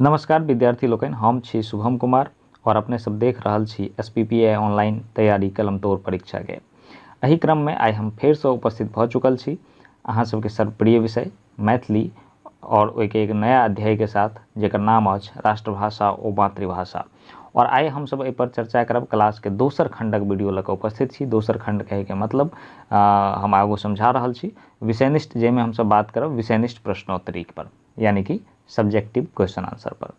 नमस्कार विद्यार्थी लोकनि हम छी शुभम कुमार और अपने सब देख रहल छी S P P A online तैयारी कलम तोड़ परीक्षा के एहि क्रम में आइ हम फेर से उपस्थित भऽ चुकल छी अहाँ सबके सर्वप्रिय विषय मैथिली और ओहिके एक नया अध्याय के साथ जेकर नाम अछि राष्ट्रभाषा ओ मातृभाषा और आइ हम सब एहि पर चर्चा करब क्लास के दोसर खंडक वीडियो लऽ कऽ उपस्थित छी दोसर खंड कहे के मतलब आ, हम आगू समझा रहल छी विषयनिष्ठ जाहिमे हम सब बात करब विषयनिष्ठ प्रश्नोत्तरी पर यानी कि सब्जेक्टिव क्वेश्चन आंसर पर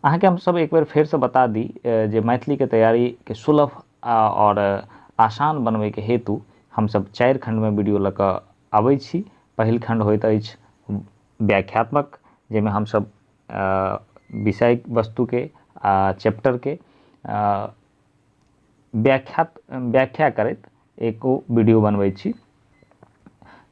अहाँके हम सब एक बेर फेर से बता दी जे मैथिली के तैयारी के सुलभ और आसान बनवे के हेतु हम सब चार खंड में वीडियो लग आबै छी पहिल खंड होइत अछि व्याख्यात्मक जाहिमे हम सब विषय वस्तु के आ चैप्टर के व्याख्या व्याख्या करैत एको वीडियो बनबै छी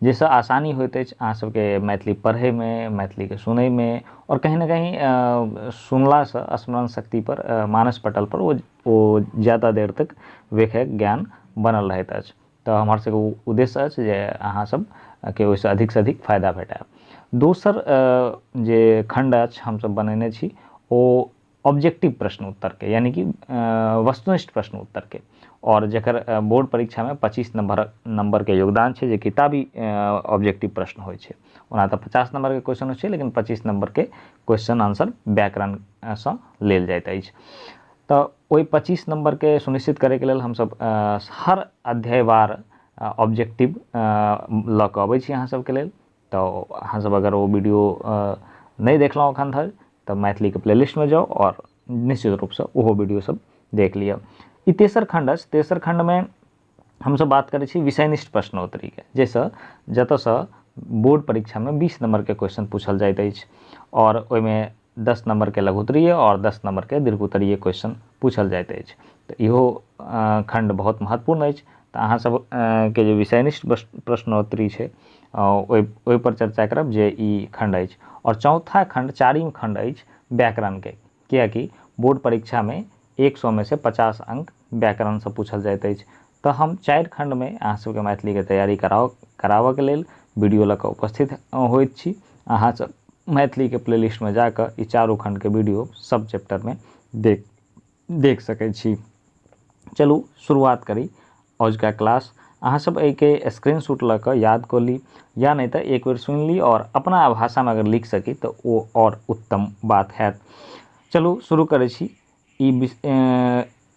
जाहिसँ आसानी होइत अछि अहाँ सबके मैथिली पढ़ैमे मैथिलीके सुनैमे आओर कहीं ना कहीं सुनलासँ स्मरण शक्ति पर मानस पटल पर ओ ओ ज्यादा देर तक वेखै ज्ञान बनल रहैत अछि तऽ हमर सबके उद्देश्य अछि जे अहाँ सब के ओहिसँ अधिकसँ अधिक फायदा भेटय दोसर जे खण्ड अछि हमसब बनेने छी ओ ऑब्जेक्टिव प्रश्न उत्तर के यानी कि वस्तुनिष्ठ प्रश्न उत्तर के और जकर बोर्ड परीक्षा में पच्चीस नंबर नंबर के योगदान छै जे किताबी ऑब्जेक्टिव प्रश्न होइ छै ओना तऽ पचास नंबर के क्वेश्चन होइ छै लेकिन पच्चीस नंबर के क्वेश्चन आंसर व्याकरण सँ लेल जाइत अछि तऽ ओहि पच्चीस नंबर के सुनिश्चित करे के लेल हमसब हर अध्यायवार ऑब्जेक्टिव लऽ कऽ अबै छी अहाँ सबके लेल तऽ अहाँसभ अगर ओ वीडियो नहि देखलहुँ एखन धरि तऽ मैथिलीके प्लेलिस्टमे जाउ आओर निश्चित रूपसँ ओहो वीडियोसभ देख लिअ ई तेसर खण्ड अछि तेसर खण्डमे हमसभ बात करै छी विषयनिष्ठ प्रश्नोत्तरीके जाहिसँ जतयसँ बोर्ड परीक्षामे बीस नम्बरके क्वेश्चन पूछल जाइत अछि आओर ओहिमे दस नम्बरके लघुत्तरीय आओर दस नम्बरके दीर्घोत्तरीय क्वेश्चन पूछल जाइत अछि तऽ इहो खण्ड बहुत महत्वपूर्ण अछि तऽ अहाँसभ के जे विषयनिष्ठ प्रश्नोत्तरी छै ओहि ओहिपर चर्चा करब जे ई खण्ड अछि आओर चौथा खण्ड चारिम खण्ड अछि व्याकरणके किएकि बोर्ड परीक्षामे एक सएमे से पचास अंक व्याकरणसँ पूछल जाइत अछि तँ हम चारि खण्डमे अहाँ सभकेँ मैथिलीक तैयारी कराओक कराबक लेल वीडियो लऽ कऽ उपस्थित होइत छी। अहाँ सभ मैथिलीक प्लेलिस्टमे जा कऽ ई चारू खण्डक वीडियो सभ चैप्टरमे देख देख सकैत छी। चलू शुरुआत करी अजुका क्लास। अहाँ सभ एहिकेँ स्क्रीनशूट लऽ कऽ याद कऽ ली या नहि तँ एक बेर सुनि ली आओर अपना भाषामे अगर लिख सकी तँ ओ आओर उत्तम बात हएत। चलू शुरू करै छी। ई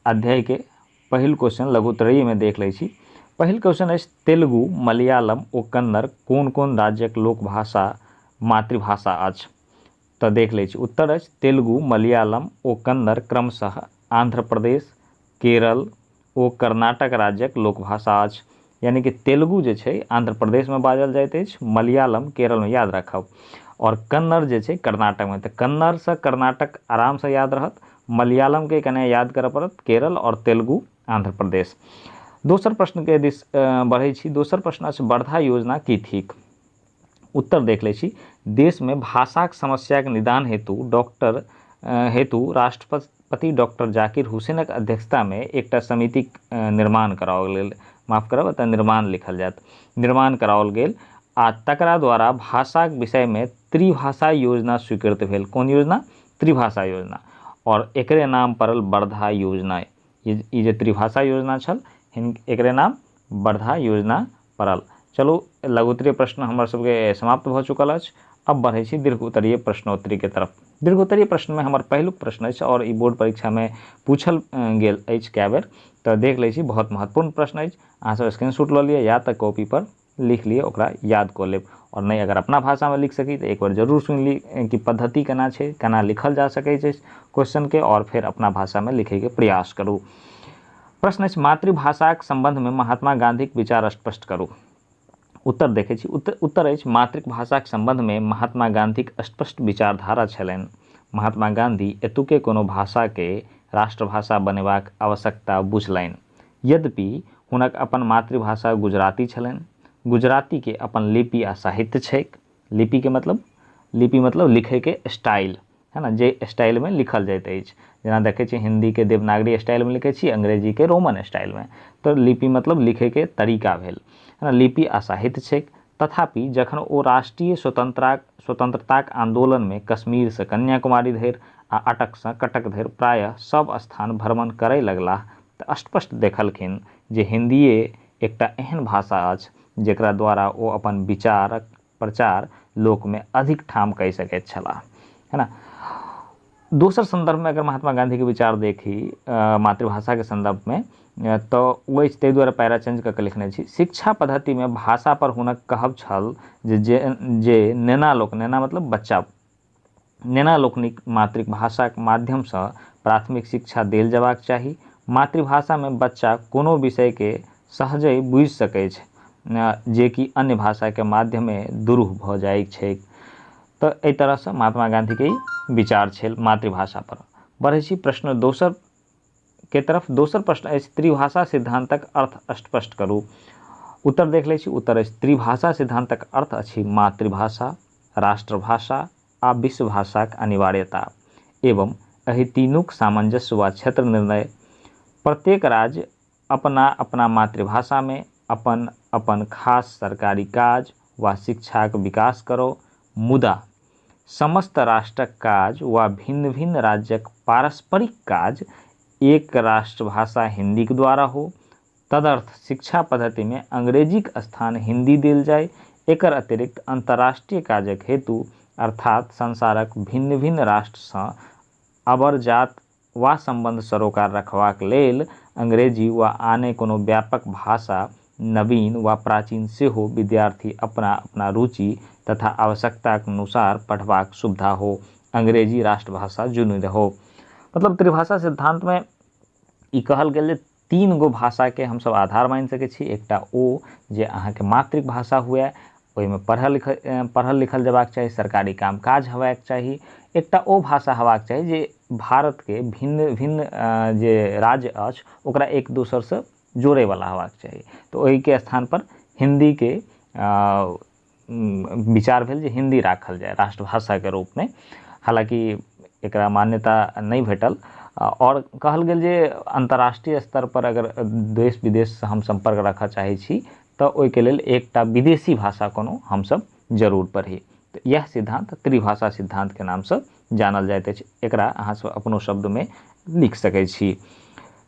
अध्यायके पहिल क्वेश्चन लघुत्तरीयमे देख लै छी पहिल क्वेश्चन अछि तेलुगु मलयालम ओ कन्नड़ कोन कोन राज्यक लोकभाषा मातृभाषा अछि तऽ देख लै छी उत्तर अछि तेलुगु मलयालम ओ कन्नड़ क्रमशः आन्ध्र प्रदेश केरल ओ कर्नाटक राज्यक लोकभाषा अछि। यानि कि तेलुगु जे छै आंध्र प्रदेश मे बाजल जाइत अछि, मलयालम केरल मे याद राखब। आओर कन्नड़ जे छै कर्नाटक मे। त कन्नड़ सँ कर्नाटक आराम सँ याद रहत। मलयालम केँ कने याद करय पड़त, केरल आओर तेलुगु आंध्र प्रदेश। दोसर प्रश्न केँ दिस बढ़ै छी। दोसर प्रश्न अछि वर्धा योजना की थिक? उत्तर देख लै छी देशमे भाषाक समस्याक निदान हेतु डॉक्टर हेतु राष्ट्रपति डॉक्टर जाकिर हुसैनक अध्यक्षतामे एकटा समितिक निर्माण कराओल गेल माफ करब एतय निर्माण लिखल जायत निर्माण कराओल गेल आ तकरा द्वारा भाषाक विषयमे त्रिभाषा योजना स्वीकृत भेल कोन योजना त्रिभाषा योजना और एकरे नाम पड़ल वर्धा योजना ई जे त्रिभाषा योजना छल एकरे नाम वर्धा योजना पड़ल चलू लघु उत्तरीय प्रश्न हमर सबके समाप्त भऽ चुकल अछि अब बढ़ै छी दीर्घ उत्तरीय प्रश्नोत्तरी के तरफ दीर्घ उत्तरीय प्रश्न में हमर पहिलुक प्रश्न अछि और ई बोर्ड परीक्षा में पूछल गेल अछि कए बेर तऽ देख लै छी बहुत महत्वपूर्ण प्रश्न अछि अहाँ सब स्क्रीनशॉट लऽ लिअ या तऽ कॉपी पर लिख लिअ ओकरा याद कऽ लेब और नहि अगर अपना भाषा में लिख सकी तऽ एक बार जरूर सुनि ली कि पद्धति केना छै केना लिखल जा सकै छै क्वेश्चन के और फेर अपना भाषा में लिखै के प्रयास करू प्रश्न अछि मातृभाषाक सम्बन्धमे महात्मा गाँधीक विचार स्पष्ट करू। उत्तर देखैत छी। उत्त उत्तर अछि मातृकभाषाक सम्बन्धमे महात्मा गाँधीक स्पष्ट विचारधारा छलनि। महात्मा गाँधी एतुके कोनो भाषाके राष्ट्रभाषा बनेबाक आवश्यकता बुझलनि। यद्यपि हुनक अपन मातृभाषा गुजराती छलनि। गुजरातीके अपन लिपि आ साहित्य छैक। लिपिके मतलब? लिपि मतलब लिखैके स्टाइल। है ने जे स्टाइलमे लिखल जाइत अछि जेना देखै छी हिन्दीके देवनागरी स्टाइलमे लिखै छी अंग्रेजीके रोमन स्टाइलमे तऽ लिपि मतलब लिखैके तरीका भेल है ने लिपि आ साहित्य छैक तथापि जखन ओ राष्ट्रीय स्वतंत्रता स्वतंत्रताक आन्दोलनमे कश्मीरसँ कन्याकुमारी धरि आ अटकसँ कटक धरि प्रायः सभ स्थान भ्रमण करय लगलाह तऽ स्पष्ट देखलखिन जे हिन्दीए एकटा एहन भाषा अछि जेकरा द्वारा ओ अपन विचारक प्रचार लोकमे अधिक ठाम कय सकैत छलाह है न दोसर सन्दर्भमे अगर महात्मा गाँधीके विचार देखी मातृभाषाके सन्दर्भमे तऽ ओ अछि ताहि दुआरे पैरा चेंज कऽ कऽ लिखने छी शिक्षा पद्धतिमे भाषापर हुनक कहब छल जे जे नेना लोक नेना मतलब बच्चा नेना लोकनिक मातृकभाषाक माध्यम सँ प्राथमिक शिक्षा देल जयबाक चाही। मातृभाषा मे बच्चा कोनो विषय केँ सहजहि बुझि सकैछ जे कि अन्य भाषा के माध्यमे दुरूह भ जाइक छैक। त एहि तरह सँ महात्मा गाँधी के ई विचार छेल मातृभाषा पर। बढ़ै छी प्रश्न दोसर। के तरफ दोसर प्रश्न अछि त्रिभाषा सिद्धांतक अर्थ स्पष्ट करू उत्तर देख लै छी उत्तर अछि त्रिभाषा सिद्धांतक अर्थ अछि मातृभाषा राष्ट्रभाषा आ विश्वभाषाक अनिवार्यता एवं एहि तीनूक सामंजस्य वा क्षेत्र निर्णय प्रत्येक राज्य अपना-अपना मातृभाषा मे अपन-अपन खास सरकारी काज वा शिक्षाक विकास करौ, मुदा समस्त राष्ट्रक काज वा भिन्न-भिन्न राज्यक पारस्परिक काज एक राष्ट्रभाषा हिन्दीक द्वारा हो। तदर्थ शिक्षा पद्धति मे अंग्रेजीक स्थान हिन्दी देल जाय। एकर अतिरिक्त अन्तर्राष्ट्रीय काजक हेतु अर्थात् संसारक भिन्न-भिन्न राष्ट्र सँ अबरजात वा सम्बन्ध सरोकार रखबाक लेल अंग्रेजी वा आने कोनो व्यापक भाषा, नवीन वा प्राचीन सेहो, विद्यार्थी अपना अपना रुचि तथा आवश्यकताक नुसार पढबाक सुविधा हो। अंग्रेजी राष्ट्रभाषा जुनि रहो। मतलब त्रिभाषा सिद्धान्तमे ई कहल गेल जे तीन गो भाषाके हमसभ आधार मानि सकै छी एकटा ओ जे अहाँके मातृभाषा हुए ओहिमे पढ़ल लिखल पढ़ल लिखल जयबाक चाही सरकारी काम काज हेबाक चाही एकटा ओ भाषा हेबाक चाही जे भारतके भिन्न भिन्न जे राज्य अछि ओकरा एक दोसरसँ जोड़यवला हेबाक चाही तऽ ओहिके स्थानपर हिंदीके विचार भेल जे हिन्दी राखल जाय राष्ट्रभाषाके रूपमे हालाँकि एकरा मान्यता नहि भेटल आओर कहल गेल जे अन्तर्राष्ट्रीय स्तर पर अगर देश विदेशसँ हम सम्पर्क राखऽ चाहै छी तऽ ओहिके लेल एकटा विदेशी भाषा कोनो हमसभ जरूर पढ़ी तऽ इएह सिद्धान्त त्रिभाषा सिद्धान्तके नामसँ जानल जाइत अछि एकरा अहाँसभ अपनो शब्दमे लिख सकै छी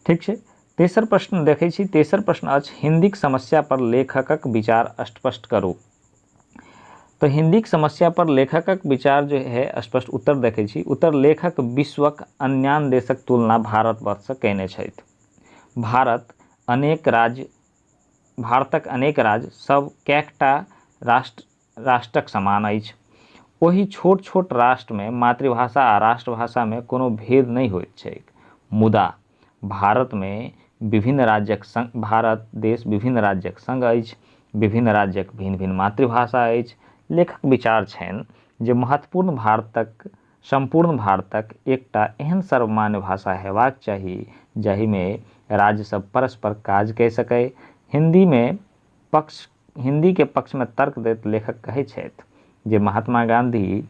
ठीक छै तेसर प्रश्न देखै छी तेसर प्रश्न अछि हिन्दीक समस्या पर लेखकक विचार स्पष्ट करू तो हिन्दीक समस्या पर लेखकक विचार जो है स्पष्ट उत्तर देखै छी उत्तर लेखक विश्वक अन्यान देशक तुलना भारतवर्षसँ कयने छथि भारत अनेक राज्य भारतक अनेक राज्य सब कैकटा राष्ट्र राष्ट्रक समान अछि। ओहि छोट-छोट राष्ट्रमे मातृभाषा आ राष्ट्रभाषामे कोनो भेद नहि होइत छैक। मुदा, भारतमे विभिन्न राज्यक संग भारत देश विभिन्न राज्यक संग अछि। विभिन्न राज्यक भिन्न-भिन्न मातृभाषा अछि। लेखक विचार छनि जे महत्वपूर्ण भारतक सम्पूर्ण भारतक एकटा एहन सर्वमान्य भाषा हेबाक चाही जाहिमे राज्यसभ परस्पर काज कए सकए। हिन्दीमे पक्ष। हिन्दी के पक्ष मे तर्क दैत लेखक कहै छैथ जे महात्मा गाँधी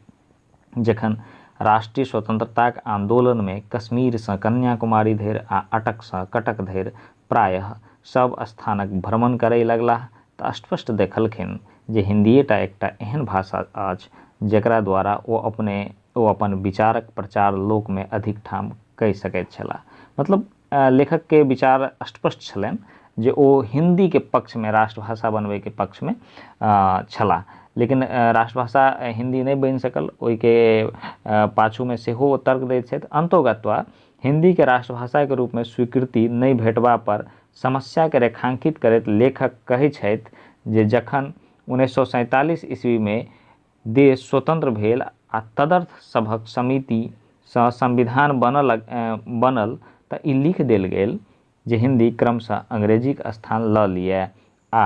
जखन राष्ट्रीय स्वतंत्रताक आन्दोलन मे कश्मीर सँ कन्याकुमारी धरि आ अटक सँ कटक धरि प्रायः सभ स्थानक भ्रमण करय लगलाह त स्पष्ट देखलखिन जे हिन्दीए टा एकटा एहन भाषा अछि जकरा द्वारा ओ अपने ओ अपन विचारक प्रचार लोक मे अधिक ठाम कय सकैत छलाह। मतलब लेखक के विचार अस्पष्ट छलनि जे ओ हिंदी के पक्ष में राष्ट्रभाषा बनबे के पक्ष में छला लेकिन राष्ट्रभाषा हिंदी नहीं बन सकल ओहि के पाछू में सेहो तर्क दैत छथि अंतोगत्वा हिंदी के राष्ट्रभाषा के रूप में स्वीकृति नहीं भेटबा पर समस्या के रेखांकित करैत लेखक कहै छथि जे जखन उन्नैस सौ सैंतालीस ईस्वी में देश स्वतंत्र भेल आ तदर्थ सभक समिति सँ संविधान बनल बनल त ई लिख देल गेल जे हिन्दी क्रमशः अंग्रेजीक स्थान ल लिअए आ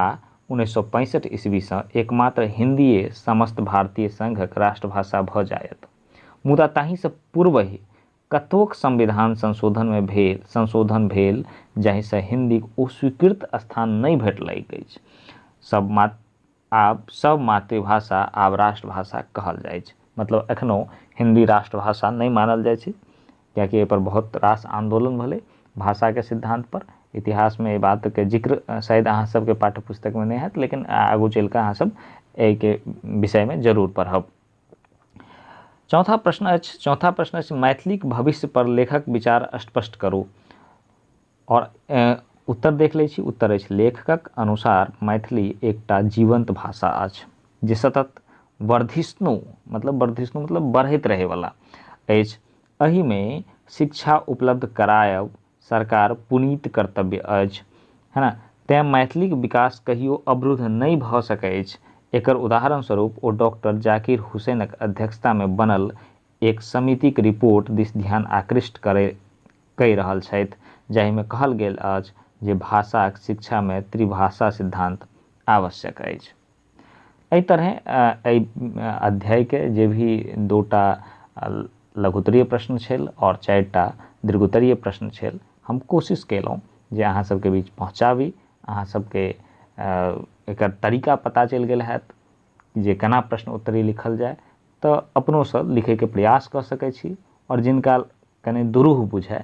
उन्नैस सए पैंसठि ईस्वी सँ एकमात्र हिन्दीए समस्त भारतीय संघक राष्ट्रभाषा भ जायत। मुदा ताहि सँ पूर्वहि कतोक संविधान संशोधन मे भेल संशोधन भेल जाहि सँ हिन्दीक ओ स्वीकृत स्थान नहि भेटलैक अछि। सब मात्र। आब सभ मातृभाषा आब राष्ट्रभाषा कहल जाइ छै मतलब एखनो हिन्दी राष्ट्रभाषा नहि मानल जाइ छै किएकि एहिपर बहुत रास आन्दोलन भेलै भाषाके सिद्धान्तपर इतिहासमे एहि बातके जिक्र शायद अहाँ सभके पाठ्य पुस्तकमे नहि हैत लेकिन आगू चलि कऽ अहाँ सभ एहिके विषयमे जरूर पढ़ब चौथा प्रश्न अछि चौथा प्रश्न अछि मैथिलीक भविष्य पर लेखक विचार स्पष्ट करू आओर उत्तर देख लै छी उत्तर अछि लेखकक अनुसार मैथिली एकटा जीवन्त भाषा अछि जे सतत वर्धिष्णु मतलब वर्धिष्णु मतलब बढ़ैत रहैवला अछि एहिमे शिक्षा उपलब्ध करायब सरकार पुनीत कर्तव्य अछि है ने तैँ मैथिलीक विकास कहियो अवरुद्ध नहि भऽ सकै अछि एकर उदाहरण स्वरूप ओ डॉक्टर जाकिर हुसैनक अध्यक्षतामे बनल एक समितिक रिपोर्ट दिस ध्यान आकृष्ट करै कय रहल छथि जाहि मे कहल गेल अछि जे भाषाक शिक्षा मे त्रिभाषा सिद्धांत आवश्यक अछि। एहि तरहें एहि अध्याय के जे भी दू टा लघुत्तरीय प्रश्न छेल आओर चारि टा दीर्घोत्तरीय प्रश्न छेल हम कोशिश केलहुँ जे अहाँ सब के बीच पहुँचाबी। अहाँ सब के एकर तरीका पता चलि गेल होयत जे केना प्रश्न उत्तरी लिखल जाय तऽ अपनो सब लिखय के प्रयास कय सकय छी आओर जिनका कने दुरूह बुझाय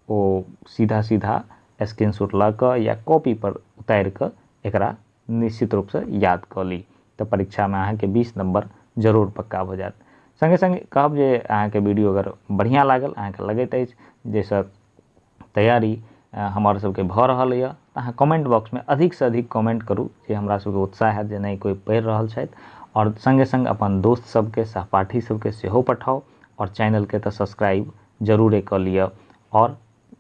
ओ सीधा सीधा स्क्रीनशॉट लऽ कऽ या कॉपी पर उतारि कऽ एकरा निश्चित रूपसँ याद कऽ ली तऽ परीक्षामे अहाँके बीस नम्बर जरूर पक्का भऽ जायत सङ्गे सङ्गे कहब जे अहाँके वीडियो अगर बढ़िआँ लागल अहाँके लगैत अछि जाहिसँ तैयारी हमर सबके भऽ रहल यऽ अहाँ कमेंट बॉक्समे अधिकसँ अधिक कमेंट करू जे हमरा सबके उत्साह हैत जे नहि कोइ पढ़ि रहल छथि आओर सङ्गे सङ्ग अपन दोस्त सबके सहपाठी सबके सेहो पठाउ आओर चैनलके तऽ सब्सक्राइब जरूरे कऽ लिअ आओर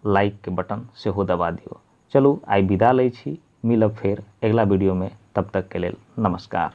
लाइकके बटन सेहो दबा दियौ चलू आइ विदा लै छी मिलब फेर अगिला वीडियोमे तब तकके लेल नमस्कार